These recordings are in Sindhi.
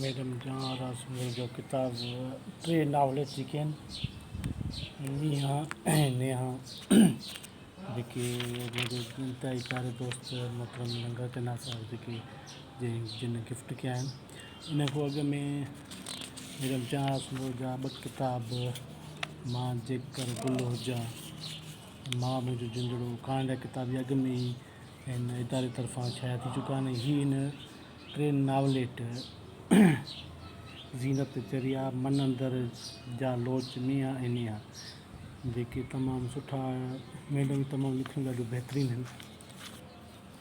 ميڊم جان آرا سومري جو ڪتاب ٽي ناول اچي چڪا آهن مينهان ۽ نيهان جيڪي منهنجي انتهائي پياري دوست محترم ننگر چنا صاحب جيڪي جن گفٽ ڪيا آهن ان کان اڳ ۾ ميڊم چانس مور جا ٻه ڪتاب مان جيڪر گل هجان ۽ ماء منهنجو جندڙو ڪهاڻين جا ڪتاب اهي اڳ ۾ ئي هن اداري طرفان شايع ٿي چڪا آهن ۽ هينئر هن ٽي ناوليٽ زينت چريا من اندر جا لوچ ميان ۽ نيان جيڪي تمام سٺا ميڊم تمام لکڻ ڏاڍيون بهترين آهن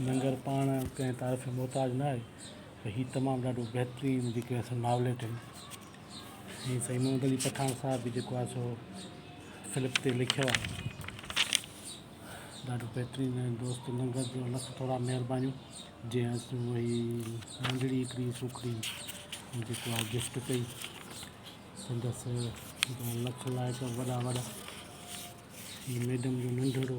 ننگر پاڻ ڪنهن تعارف جو محتاج نه آهي پر هي تمام ڏاڍو بهترين جيڪي اسان ناوليٽ آهن ۽ سائين محمد علي پٺاڻ صاحب به جيڪو آهي سو فلپ تي لکيو آهي ڏاڍو بهترين ۽ دوست ننگر جو لک ٿورا مهربانيون جنهن اسان اهي ننڍڙي هڪڙي سوکڙي جيڪو آهي گفٽ ڪئي سندس لک لائق وڏا وڏا هي ميڊم جو ننڍڙو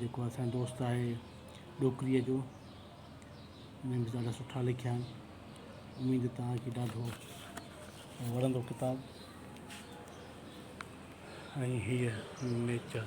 جيڪو اسان جو دوست آهي ڏوڪري جو انهن به ڏاڍا سٺا لکيا آهن اميد توهان کي ڏاڍو وڻندو ڪتاب ۽ هيء نيچر